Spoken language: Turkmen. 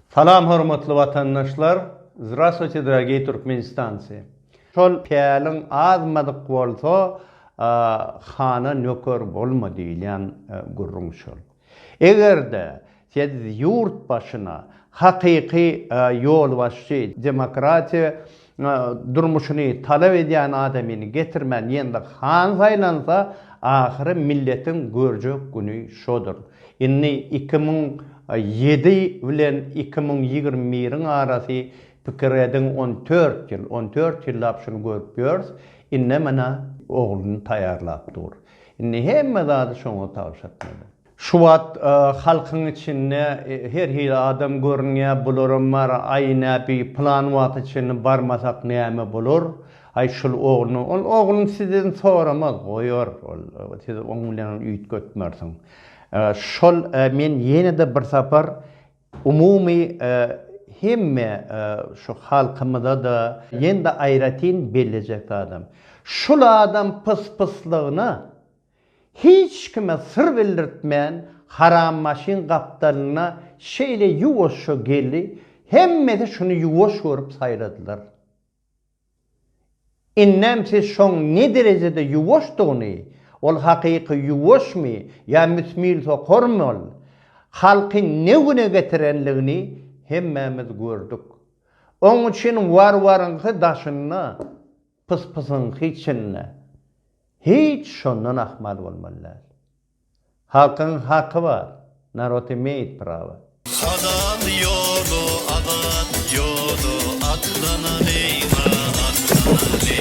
Salam hormatly watandaşlar Zdrastwuyte dragiy Türkmenistanci Şol päliň azmadyk bolsa hana nöker bolma diýilýän gürrüň şol Egerde siz ýurt başyna hakyky ýolbaşçy demokratiýa durmuşyny talap edýän adamyny getirmän ýene-de han saýlansa, ahyry milletiň görjek güni şodur. Indi iki müň ýedi bilen iki müň ýigrimi biriň arasy pikir ediň on dört ýyl, on dört ýyllap şuny görüp ýörs, indi menä ogluny taýýarlap dur. Indi hemme zady şoňa tabşyrtmaly. Şu wagt halkyň içinde her hili adam görünýär, bularam bar, aý näbi plan wagta çenli barmasak näme bolar, aý şul ogluny, ol oglun sizden soramaz, goýar, ol siz oň bilen üýtgetmersiň. Şol men ýene-de bir sapar umumy hemme şu halkymyza-da ýene-de aýratyn bellejek zadym, şul adam pyspyslygyna Hiç kime syr bildirtmän Haram maşyn gapdalynda şeýle ýuwaşja geldi, hemmesi şuny ýuwaş görüp saýladylar. Indem siz şoň ne derejede ýuwaşdygyny, ol hakyky ýuwaşmy ýa müsmil sokarmy ol, halky ne güne getirenligini hemmämiz gördük. Oň üçin warwaryňky daşynda. Pys-pysyň hiç çenine, hiç şondan ahmal bolmaly däl. Halkyň haky bar, narod imeýit prawa. Halal ýola azat ýola atlanalyň a atlanalyň.